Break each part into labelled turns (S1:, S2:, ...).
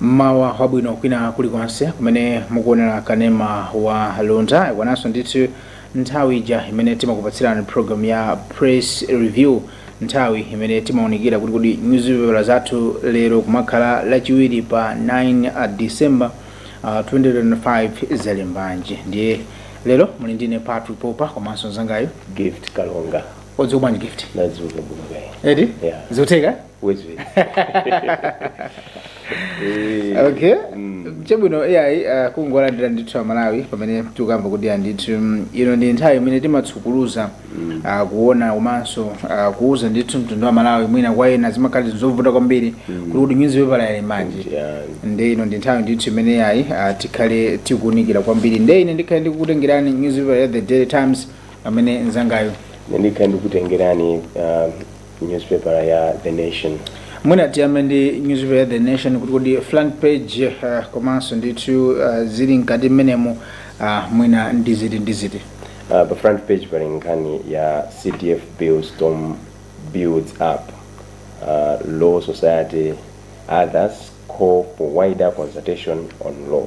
S1: mmawa wabwino kwina kulikonse kumene mukuonera kanema wa luntha ikwananso ndithu nthawi ija imene timakupatsirani program ya press review nthawi imene timaunikira kuti kodi nyuzipepala zathu lero pokhala lachiwiri pa 9 december uh, 2025 zalembanji ndiye lero muli ndine patrick popa komanso mzangayo gift kalonga
S2: wadzuka bwanji
S1: gift ndadzuka bwino
S2: kaya eti
S1: Yeah.
S2: zotheka
S1: wezi
S2: wezi
S1: Eh, okay mm. chabwino iyayi uh, kungolandira ndithu amalawi pamene tikukamba kuti ndithu mm, ino ndi nthawi imene timatsukuluza mm. uh, kuona komanso uh, kuuza ndithu mtundu wa malawi mwina kwa ena zimakhala zovuta kwambiri mm. kuti kodi nyuzipepala ili m'manja Yeah. nde ino ndi nthawi ndithu imene yayi uh, tikhale tikuunikira kwambiri nde ine ndikhale ndikukutengerani nyuzipepala ya the daily times pamene mzangayo ine
S2: ndikhale ndikukutengerani uh, newspaper ya the nation mwina
S1: tiyambe ndi newspaper ya the nation kuti kodi front page uh, komanso ndithu uh, zili mkati mmenemu uh, mwina ndi ziti ndi ziti uh, pa
S2: front page pali nkhani ya cdf bill storm builds up uh, law society others call for wider consultation on law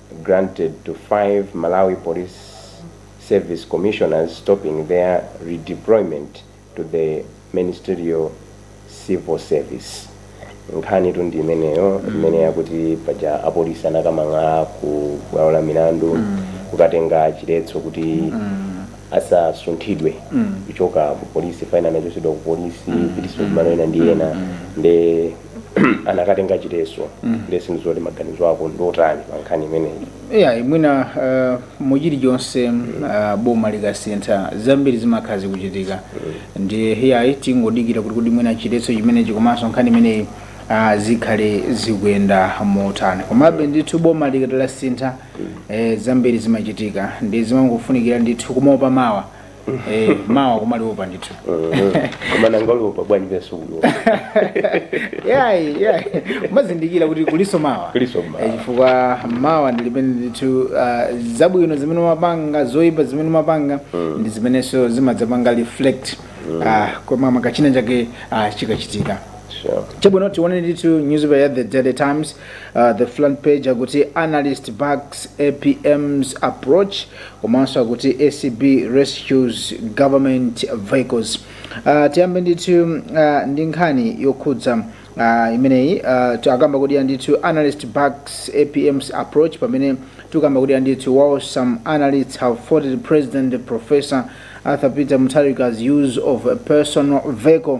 S2: granted to five Malawi Police Service Commissioners stopping their redeployment to the Mainstream Civil Service. nkhanitu ndi imeneyo imene yakuti paja apolisi anakamang'ala ku bwalo la milandu kukatenga chiletso kuti asasunthidwe kuchoka ku polisi five ena anachotsedwa ku polisi kupititsidwa kumalo ena ndi ena nde anakatenga chiletso nde sindidziwa kuti maganizo ako ndotani pa nkhani imeneyi ya mwina
S1: uh, mu chilichonse uh, boma likasintha zambiri zimakhala zikuchitika ndiye iyayi tingodikira kuti kodi mwina chiletso chimenechi komanso nkhani imeneyi uh, zikhale zikuyenda motani komabe ndithu boma likati lasintha eh, zambiri zimachitika nde zimangofunikira ndithu kumaopa mawa Eh, mawa kumaliopa ndithu
S2: koma nanga uliopa bwanji pesa uyo yayi
S1: yayi umazindikira kuti kulinso mawa Kulinso mawa. Eh, chifukwa mawa ndi limene ndithu uh, zabwino zimene umapanga zoyipa zimene umapanga ndi zimenenso zimadzapanga reflect uh, kumamawa kachinachake uh, chikachitika sure chabwino tione ndithu newspaper ya the daily times uh, the front page akuti analyst backs apm's approach komanso akuti acb rescues government vehicles uh, tiyambe ndithu uh, ndi nkhani yokhudza uh, imeneyi uh, akukamba kuti ndithu analyst backs apm's approach pamene tikukamba kuti ndithu while some analysts have faulted president professor arthur peter mutharika's use of a personal vehicle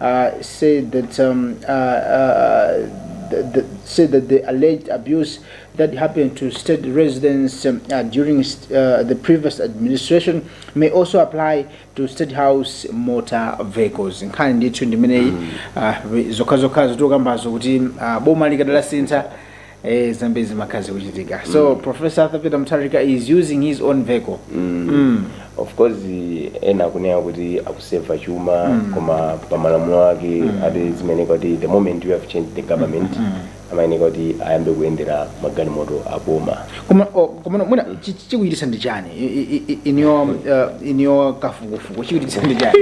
S1: uh, said that um, uh, uh, the, the, said that the alleged abuse that happened to state residents um, uh, during uh, the previous administration may also apply to state house motor vehicles nkhani ndithu ndimeneyi uh, zokhazokhazo tikukambazo kuti uh, boma likadalasintha eh zambiri zimakhala zikuchitika so professor arthur peter mutharika is using his own vehicle mm.
S2: of course ena akunena kuti akuseva chuma koma pa malamulo ake ati zimayeneka kuti the moment you have changed the government amayeneka kuti ayambe kuyendera magalimoto aboma koma oh, koma
S1: no, mwina chi- chi- chikuchititsa ndi chani I- i- i- in your um, uh, in your kafukufuku chikuchititsa ndi chani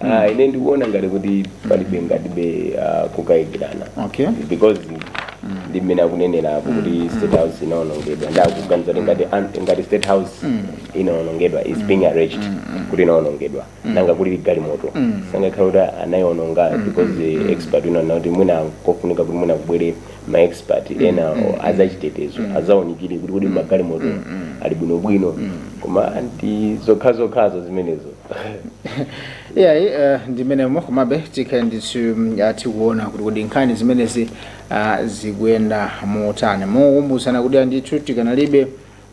S2: Ah, ine ndikuona ngati kuti palibe ngatibe ah, kukayikirana Okay. because ndi mmene akunenera apo kuti state house inaonongedwa ndakuganiza kuti ngati an- ngati state house inaonongedwa is being alleged kuti inaonongedwa nanga kuli galimoto sangakhala kuti anaiononga because the expert unaona kuti mwina kofunika kuti mwina kubwere ma expert ena azachitetezo azaonikire kuti kuti magalimoto ali bwinobwino koma ndi zokhazokhazo zimenezo
S1: iyayi eh, ndimenemo komabe tikhale ndithu mm, ah, tikuona kuti kodi nkhani zimenezi ah, zikuyenda motani mokumbutsana kutereku ndithu tikanalibe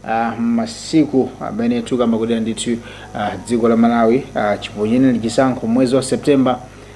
S1: ah, masiku amene tukamba kutereku ndithu ah, dziko la malawi ah, chiponyereni chisankho mwezi wa september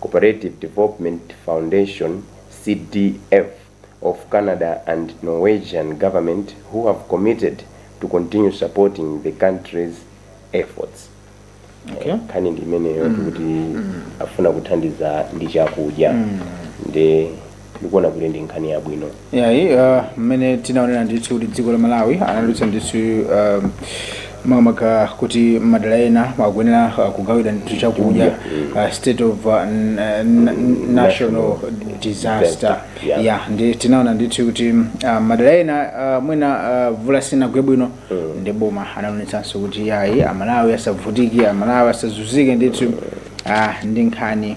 S2: Cooperative Development Foundation, CDF, of Canada and Norwegian Government who have committed to continue supporting the country's efforts. Okay.
S1: Nkhani ndi imeneyo
S2: kuti afuna kuthandiza ndi chakudya. Ndi ndikuona kuti ndi nkhani yabwino yayi uh,
S1: mmene tinaonera ndithu kuti dziko la malawi analowetsa ndithu um, makamaka kuti madera ena akuyenera uh, kugawira ndithu chakudya uh, state of uh, n- n- n- national disaster Yeah. ya ndi tinaona ndithu kuti uh, madera ena uh, mwina uh, vula sinagwe bwino ndi boma analonjezanso kuti yayi amalawi asavutike amalawi asazunzike ndithu uh, ndi nkhani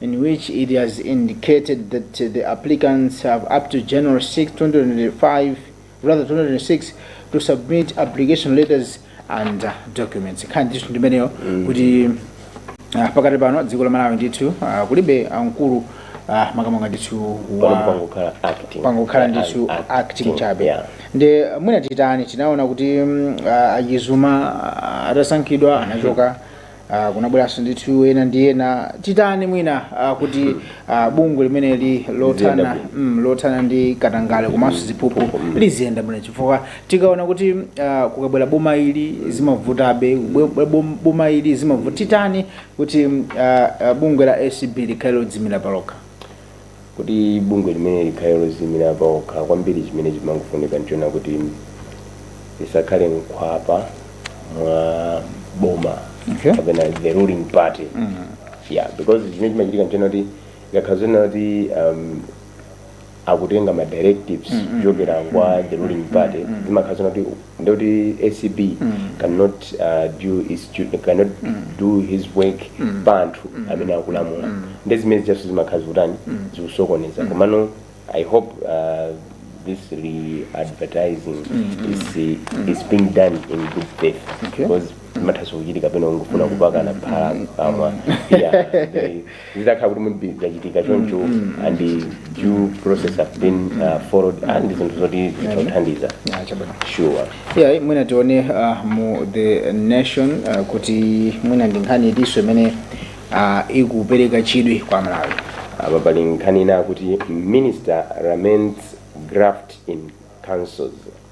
S1: in which it has indicated that the applicants have up to January 6, 2025, rather 2026, to submit application letters and uh, documents. Nkhani ndithu ndimeneyo kuti ah, pakati pano dziko la Malawi ndithu ah, kulibe amkulu ah, makamaka ndithu wa Pano pangokhala acting. pangokhala ndithu Act- acting chabe Yeah. ndi mwina titani tinaona kuti mm, ah, achizuma ah, atasankhidwa anachoka Ah, kunabweranso ndithu ena ndi ena titani mwina ah, kuti ah, bungwe limeneli lothana Liziyenda mm, lothana ndi katangale komanso ziphuphu liziyenda bwino chifukwa tikaona kuti ah, kukabwera boma ili zimavutabe bwe- bom- boma ili zimavuta titani kuti mm, ah, ah, bungwe la acb likhale lodzimira palokha
S2: kuti bungwe limeneli likhale loziyimira paokha kwambiri chimene chimangofunika nchona kuti lisakhale mkhwapa mwa boma Okay. kapena
S1: the
S2: ruling party yeah because chimene chimachitika nchona kuti ikakhala zonena kuti um, akutenga ma directives kuchokera kwa the ruling party zimakhala zonena kuti ndekuti acb cannot do its duty cannot do his work kwa anthu amene akulamula nde zimene zijaso zimakhala zikutani zikusokoneza komano i hope uh, this re-advertising is, is being done in good faith Okay. because zimathanso kuchitika pena ungofuna kupakana phala kamwa yeah, they- zitakhala kuti maybe zachitika choncho and the due process have been uh, followed and zinthu zoti zitithandiza Ah, chabwino sure yeah mwina
S1: tione uh, mu the nation uh, kuti mwina ndi nkhani itinso imene uh, ikupereka chidwi kwa aMalawi apa pali nkhani
S2: ina kuti minister laments graft in councils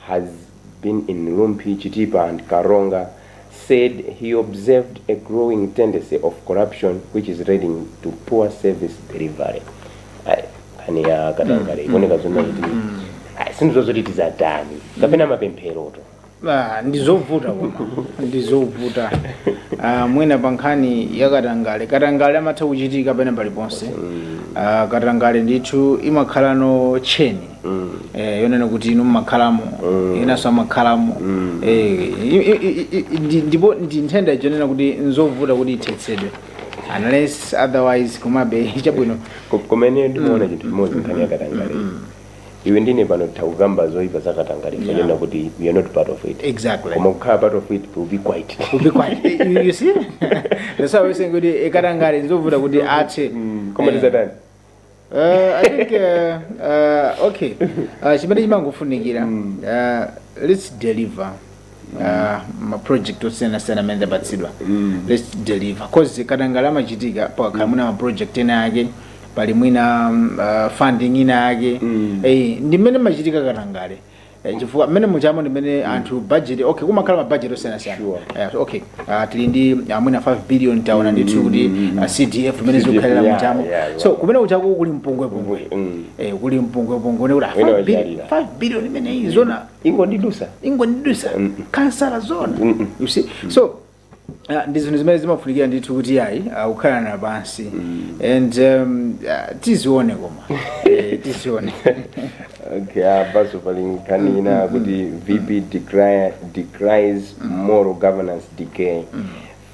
S2: has been in Rumphi, Chitipa and Karonga, said he observed a growing tendency of corruption which is leading to poor service delivery. Ai, Nkhani ya katangale ikuoneka zonna kuti ai, si nzoti tizatani kapena mapemphero Ah,
S1: ndizovuta koma ndizovuta Ah, mwina pa nkhani ya katangale katangale amatha kuchitika pena paliponse Ah, katangale ndithu imakhalanso tcheni eh, yonena kuti inu mmakhalamo inanso amakhalamo eh, i- i- i- i- ndi- ndipo ndi nthenda yonena kuti nzovuta kuti ithetsedwe unless otherwise komabe chabwino Ko- koma ine ndimaona
S2: chinthu chimodzi nkhani yakatangale iwe ndine pano takukamba zoyipa zakatangale Yeah. zonena kuti we are not part of it exactly koma kukhala
S1: part of
S2: it will be quiet We'll be quiet. Eh,
S1: you- you see that's why we're saying kuti katangale nzovuta kuti athe koma Eh, tizatani Uh, I think uh, uh, okay uh, chimene chimangofunikira uh, let's deliver uh, maproject osiyanasiyana amene tapatsidwa let's deliver cause katangale amachitika pakhala mwina maproject ena ake pali mwina um, uh, funding ina ake mm. hey, ndi mmene mmachitika katangale Eh, chifukwa mmene mujamo ndimene anthu budget okay kumakhala ma budget osiyanasiyana Sure. Eh, so, okay ah, tili ndi mwina 5 billion taona ndithu kuti ah, cdf mmene CDF, zikukhalira yeah, mujamo yeah, yeah. so kumene kujako kuli mpungwepungwe Mm. Eh, kuli mpungwepungwe ndekuti Wina 5 billion wachalira. 5 billion imeneyi zona ingondidusa ingondidusa kansala zona you see so Ah, ndi zinthu zimene zimafunikira ndithu kuti ayi akukhalana pansi and um, ah, tizione koma Eh, tizione okay
S2: apaso pali nkhani ina kuti vp decri- decries moral governance decay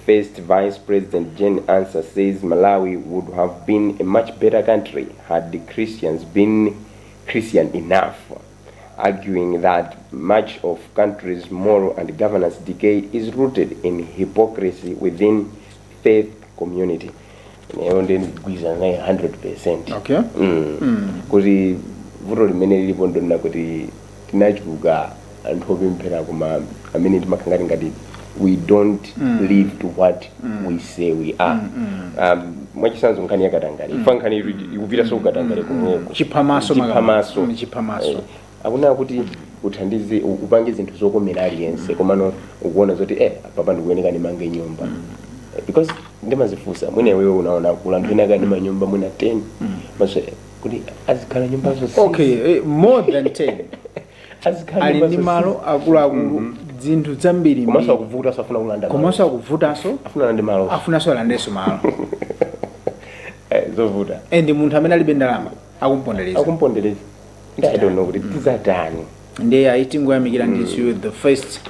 S2: first vice president jane ansah says malawi would have been a much better country had the christians been christian enough arguing that much of country's moral and governance decay is rooted in hypocrisy within faith community ineyo ndiye ndigwirizana naye 100 percent okay
S1: Mm.
S2: kuti vuto limene lilipo ndonena kuti tinachuluka anthu opemphera koma amene timakhala ngati ngati we don't live to what we say we are um, mwachisanzo nkhani yakatangale ifa nkhani iri ikupitaso ku katangale kumweko Chiphamaso maka- chiphamaso
S1: Mm, chiphamaso. Eh,
S2: akunena kuti uthandize u- upange zinthu zokomera aliyense komano ukuona zoti eh apapa ndikuyeneka ndimange nyumba Eh, because ndimazifunsa mwina iwewe unaona kuli anthu ena ali ndi manyumba mwina 10 maso eh, kuti azikhala nyumba zonse okay eh, more
S1: than 10 azikhala ali nyumba ndi malo zosizi. akuluakulu Mhm. dzinthu komanso dzambirimbiri akuvutaso
S2: afuna kulanda malo. komanso akuvutanso
S1: afuna ndi malo
S2: afunanso alandenso malo Eh, zovuta and munthu amene
S1: alibe ndalama akumpondereza akumpondereza ndi i
S2: don't know kuti tizatani ndiye ayi
S1: tingoyamikira ndithu the first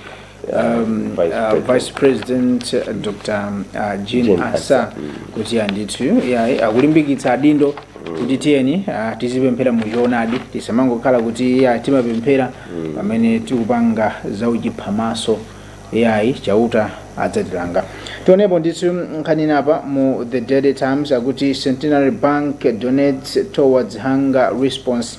S1: um, Vice uh, President. vice president uh, dr uh, jane Jane ansah Ansah, kuti andithu yayi akulimbikitsa adindo kuti tiyeni uh, tizipemphera mu choonadi tisamangokhala kuti yayi timapemphera pamene tikupanga za uchiphamaso yayi chauta adzatilanga tionepo ndithu nkhani apa mu the daily times akuti centenary bank donates towards hunger response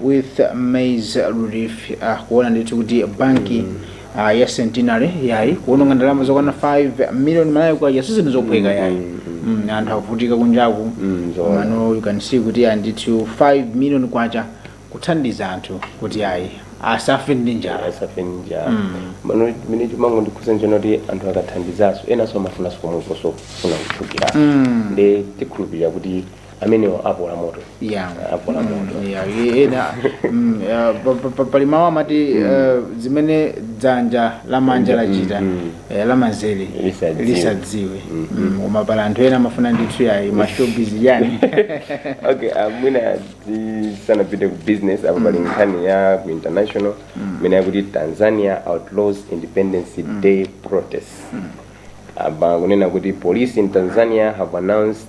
S1: with maize relief ah, kuona ndithu kuti banki ah, ya centenary yayi kuononga ndalama zokwana 5 million malawi kwacha sizinthu zophweka yayi Mm, anthu akuvutika kunjaku Mm, zoona. mano you can see kuti ah, ndithu 5 million kwacha kuthandiza anthu kuti ayi asafe ndi njala asafe
S2: njala mano mene chimango ndikhuza njena kuti anthu akathandizaso enanso amafunanso pomweponso funa kuphukira Mm. ndi tikhulupirira kuti amenewo apola moto Yeah. apola Mm, moto yeah, ye- ena mm, yeah, pa- pa- pa- pali mawu
S1: amati eh, zimene dzanja lamanja lachita mm. eh, lamanzere Lisadziwe. lisadziwe Mm, koma pali anthu ena amafuna ndithu yayi mashowbiz yani
S2: okay uh, mwina tisanapite ku business apo pali nkhani ya ku international imene yakuti tanzania outlaws independence day protest apa kunena kuti police in tanzania have announced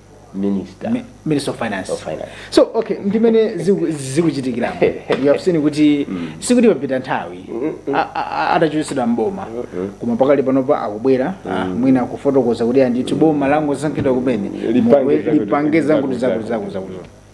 S1: minister Mi- minister of finance of finance so okay ndimene ziku- zikuchitikiramo you have seen kuti sikuti papita nthawi a- a- a- atachotsedwa mboma koma pakali panopa akubwera ah, mwina akufotokoza kuti andithu boma langosankhidwa kumene Lipange Mwe- zakuti- lipange zakuti zakuti zakuti zakuti zakuti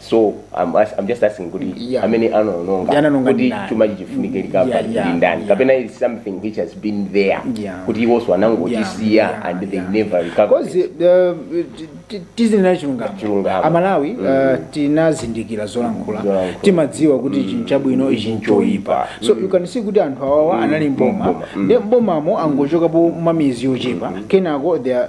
S1: so I'm, as-
S2: I'm just asking kuti Yeah. amene anaononga Anaononga kuti ndani? chuma chi- chifunike Yeah, recovery yeah, ndi ndani yeah. kapena it's something which has been there Yeah. kuti iwonso anangotisiya Yeah, yeah, and they yeah. never recover coz
S1: tizinena chilungamo Chilungamo. amalawi uh, tinazindikira zolankhula Zolankhula. timadziwa kuti ichi nchabwino ichi nchoyipa so you can see kuti anthu awawa anali mboma Mboma. nde mbomamo angochokapo mwa miyezi yochepa kenako they are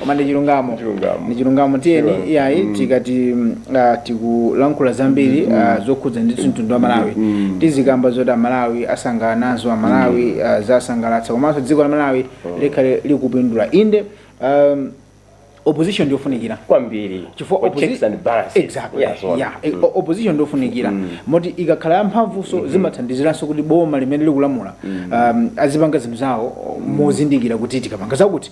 S1: koma ndi chilungamo Ndi chilungamo. ndi chilungamo tiyeni Chilungamo. iyayi tikati mm, ah, tikulankhula zambiri ah, zokhudza ndithu mtundu wa malawi tizikamba zoti amalawi asangalala nazo amalawi ah, zasangalatsa komanso dziko la malawi likhale likupindula inde um, opposition ndiyofunikira kwambiri chifukwa Kwa
S2: opposi- checks and balances. Exactly. Yeah, so on. Yeah.
S1: E- o- opposition ndofunikira moti ikakhala yamphamvunso zimathandiziranso kuti boma limene likulamula um, azipanga zinthu zawo mozindikira kuti tikapanga zakuti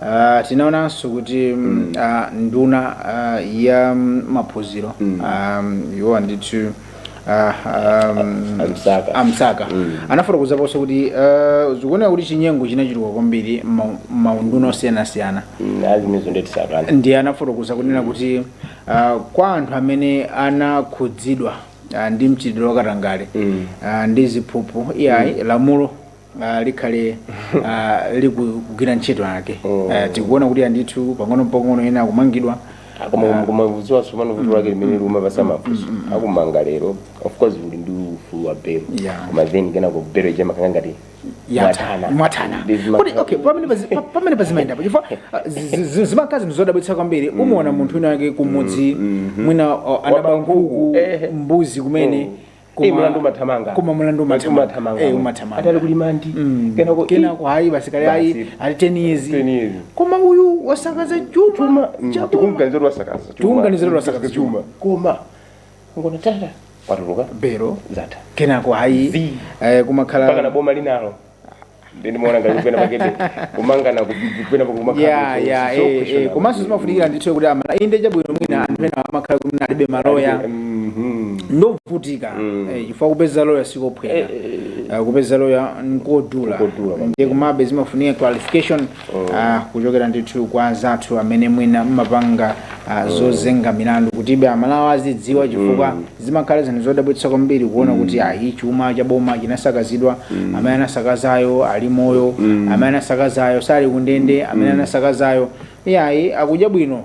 S2: Uh, tinaonanso kuti mm. uh, nduna uh, ya maphunziro mm. um, iwo andithu Ah, um, a Msaka, a Msaka. Mm. anafotokozaponso kuti uh, zikuoneka kuti chinyengo chinachuluka kwambiri maunduna osiyanasiyana mm, ndiye anafotokoza kunena kuti uh, kwa anthu amene anakhudzidwa uh, ndi mchitidwe wakatangale mm. uh, ndi ziphuphu iyayi mm. lamulo ah, likhale ah, likugwira ntchito yake Ah, tikuona kuti andithu pang'ono mpang'ono ena akumangidwa kumafunsidwa tsopano vuto lake limene limapatsa mafunso akumanga lero of course uli ndi ufulu wa belo Yeah. koma then kenako belo ija imakhala ngati
S1: yatana mwathana Ndi zima- kuti okay pamene pazi- pa- pamene pazimaendapo chifukwa ah, zi- zi- zi- zimakhala zinthu zodabwitsa kwambiri umaona munthu wina wake kumudzi mwina ah, anaba Waba nkhuku, nkhuku eh. mbuzi kumene Eh,
S2: Koma- mulandu umathamanga koma mulandu
S1: Mulandu umathamanga. Eh,
S2: umathamanga. atali ku remand Mm. kenako kenako
S1: ayi basi kale Basi. ayi ali 10 years 10 years. koma uyu wasakaza chuma chuma mm, cha boma.
S2: tikumganizira wasakaza Tikumganizira wasakaza chuma koma ngona tata watuluka belo zatha
S1: kenako ayi Zii. eh, mpakana kumakhala boma linalo
S2: Ndiye ndimaona ngati kuti penapakebe kumangana kupena pakumakhala. ya
S1: ya eh, eh, komanso zimafunikira ndithu kuti amala- inde chabwino mwina anthu ena amakhala kuti mwina alibe maloya Mhm. ndovutika eh, chifukwa kupeza loya sikophweka Eh, kupeza loya nkodula Nkodula, ndiye komabe zimafunika clarification ah, kuchokera ndithu kwa anzathu amene mwina mmapanga ah, zozenga milandu kutibe amalawi azidziwa chifukwa zimakhala zinthu zodabwitsa kwambiri kuona kuti ayi chuma cha boma chinasakazidwa amene anasakazayo ali moyo amene anasakazayo sali kundende amene anasakazayo iyayi akudya bwino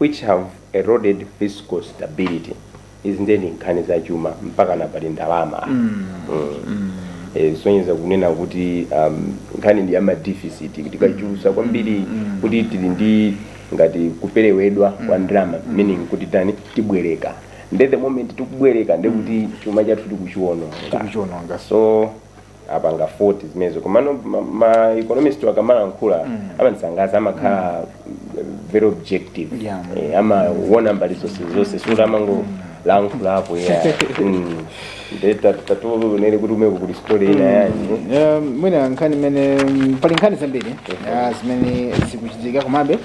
S2: which have eroded fiscal stability izi ndiye ndi nkhani za chuma mpakana pali ndalama apa. Mm. Eh, zisonyeza kunena kuti um, nkhani ndi yamadeficit tikuchulutsa kwambiri kuti tili ndi ngati kuperewedwa kwa ndalama meaning kuti tani tibwereka nde the moment tikubwereka nde kuti chuma chathu tikuchiwononga Tikuchiwononga. so apanga 40 zimenezo komano ma, ma economist akamalankhula mm. amandisangalatsa amakhala mm. very objective yeah. eh, amaona mbali zonse zonse sikuti amangolankhula apo ayi mm. nde tatiwonereni kuti kumeneko kuli story ina yanji Eh, mwina
S1: nkhani imene pali nkhani zambiri ah, zimene zikuchitika komabe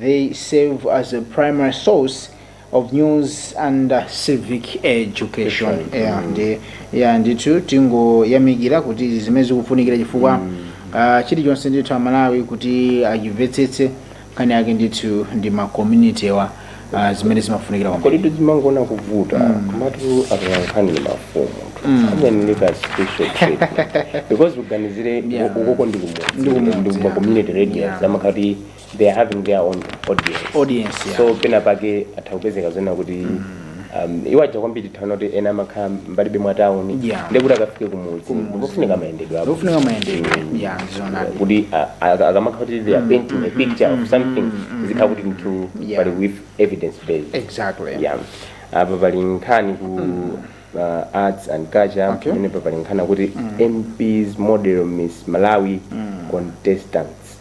S1: They serve as a primary source of news and uh, civic education. Yeah, ndi yeah, ndithu tingoyamikira kuti izi zimene zikufunikira chifukwa uh, chilichonse ndithu amalawi kuti achimvetsetse nkhani yake ndithu ndi ma community-wa uh, zimene zimafunikira kwambiri. kodi
S2: tizingonena kuvuta komatu atolankhani ndi mafumu amayeneleka special treatment because uganizire ukoko ndi Ndi kumudzi, kumudzi, yeah. community radios amakhala kuti they are having their own audience Audience, yeah. so pena pake atha kupezeka zonena kuti um, iwo aja kwambiri taona kuti ena amakhala mbali za mtauni Yeah. ndekuti akafike kumudzi ndikufunika mayendedwe apo ndikufunika mayendedwe ya ndizonadi
S1: kuti
S2: a- a- akamakhala kuti they are painting a picture of something zikhala kuti mtu Yeah. pali with evidence based exactly
S1: yeah apa
S2: pali nkhani ku uh, arts and culture Okay. pamenepa pali nkhani kuti mps model miss malawi contestants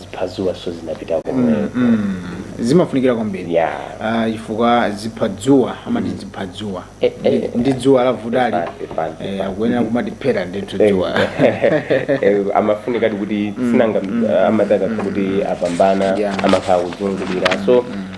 S2: ziphadzuwaso zinapita komweko Mm,
S1: zimafunikira kwambiri ya Ah,
S2: chifukwa ziphadzuwa
S1: amati ziphadzuwa Eh, eh. Ndi- ndi dzuwa lavutali Fine, fine, fine. Eh, akuyenera kumatiphera ndithu dzuwa
S2: Eh, amafunika kuti sinanga amati aka kuti apambana Yeah. amakhala kuzungulira so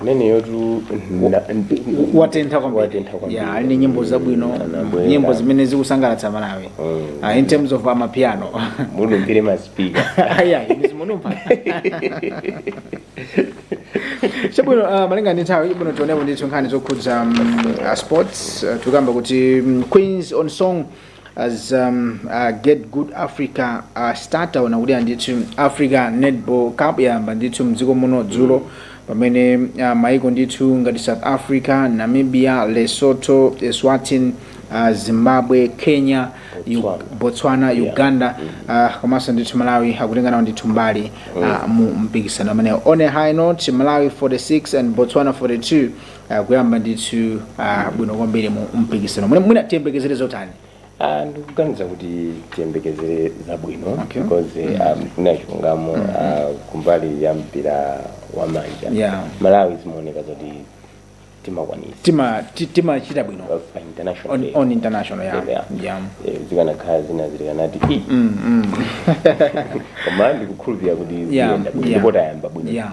S2: ameneyotu
S1: na- ndi- watentha kwambiri watentha kwambiri. Yeah, ali ndi nyimbo zabwino Anabwera. nyimbo zimene zikusangalatsa malawi Mm. Ah, in terms of amapiano munumpire
S2: masipika ayayi
S1: ndizimunumpa chabwino uh, malinga ndi nthawi chabwino tionepo ndithu nkhani zokhudza um, uh, sports uh, tikuyamba kuti um, queens on song as um, uh, get good africa uh, start taona kuti ndithu africa netball cup yayamba ndithu mdziko muno dzulo pamene uh, maiko ndithu ngati south africa namibia lesotho eswatin uh, zimbabwe kenya Yu- Botswana. botswana Yeah. uganda uh, komanso ndithu malawi akutenganawo ndithu mbali uh, mu mpikisano umenewo on a high note malawi 46 and botswana 42 ah, kuyamba ndithu ah, bwino kwambiri mu mpikisano mwina mwina tiyembekezere zotani Ah,
S2: ndikuganiza kuti tiyembekezere zabwino Okay. because um, kuna chilungamo ah, kumbali ya mpira wa manja Yeah. malawi zimaoneka zoti timakwanitsa tima
S1: ti- timachita bwino pa international on, level. on international yeah. Yeah. Yeah. Eh,
S2: zikanakhala zina zilikanati "Ih, Mm, mm. koma ndikukhulupirira kuti Yeah, ziyenda bwino yeah. ndipo tayamba bwino Yeah.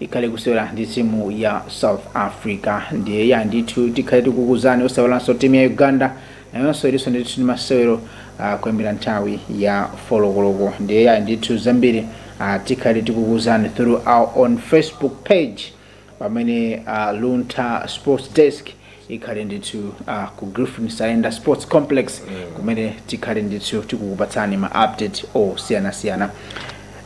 S1: ikhale kusewera ndi timu ya south africa ndiye ya ndithu tikhale tikukuzani osaiwalanso timu ya uganda nayonso ilinso ndithu ndi masewero uh, kuyambira nthawi ya folokoloko ndiye ya ndithu zambiri uh, tikhale tikukuzani through our own facebook page pamene uh, luntha sports desk ikhale ndithu uh, ku griffin saenda sports complex kumene tikhale ndithu tikukupatsani ma update osiyanasiyana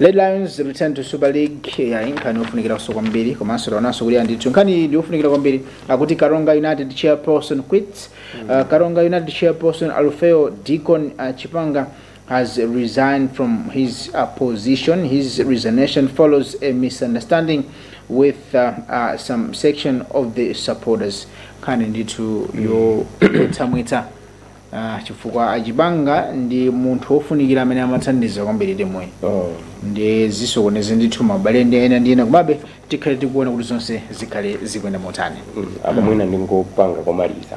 S1: red lions return to super league ya ndi nkhani yofunikiranso kwambiri komanso taonanso kuti ya ndithu nkhani iyi ndi yofunikira kwambiri akuti karonga united chairperson quits uh, karonga united chairperson alufeo deacon uh, chipanga has resigned from his uh, position. His resignation follows a misunderstanding with uh, uh, some section of the supporters. Nkhani ndithu yotsamwitsa uh, chifukwa achipanga ndi munthu wofunikira amene amathandiza kwambiri timuyi Oh. ndi zisokonezo ndithu abale ndi ena ndi ena komabe tikhale tikuona kuti zonse zikhale zikuyenda motani apa mwina
S2: ndingopanga komaliza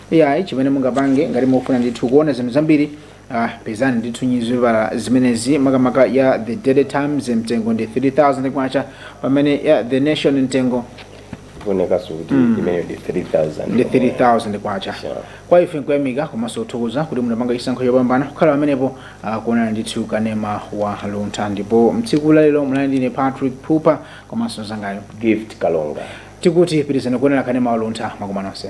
S1: ai chimene mungapange ngati mukufuna ndithu kuona zinthu zambiri ah, pezani ndithu nyuzipepala zimenezi makamaka ya the daily times mtengo ndi 3000 kwacha pamene ya the nation mtengo kuonekaso kuti imeneyo
S2: ndi 3000
S1: ndi 3000 kwacha Sure. kwa ife nkuyamika komanso kuthokoza kuti munapanga chisankho chopambana kukhala pamenepo ah, kuonana ndithu kanema wa luntha ndipo mtsiku lalero munali ndine patrick pupa komanso mnzangayo gift kalonga
S2: tikuti pitirizani
S1: kuonera kanema wa luntha madzulo ano nonse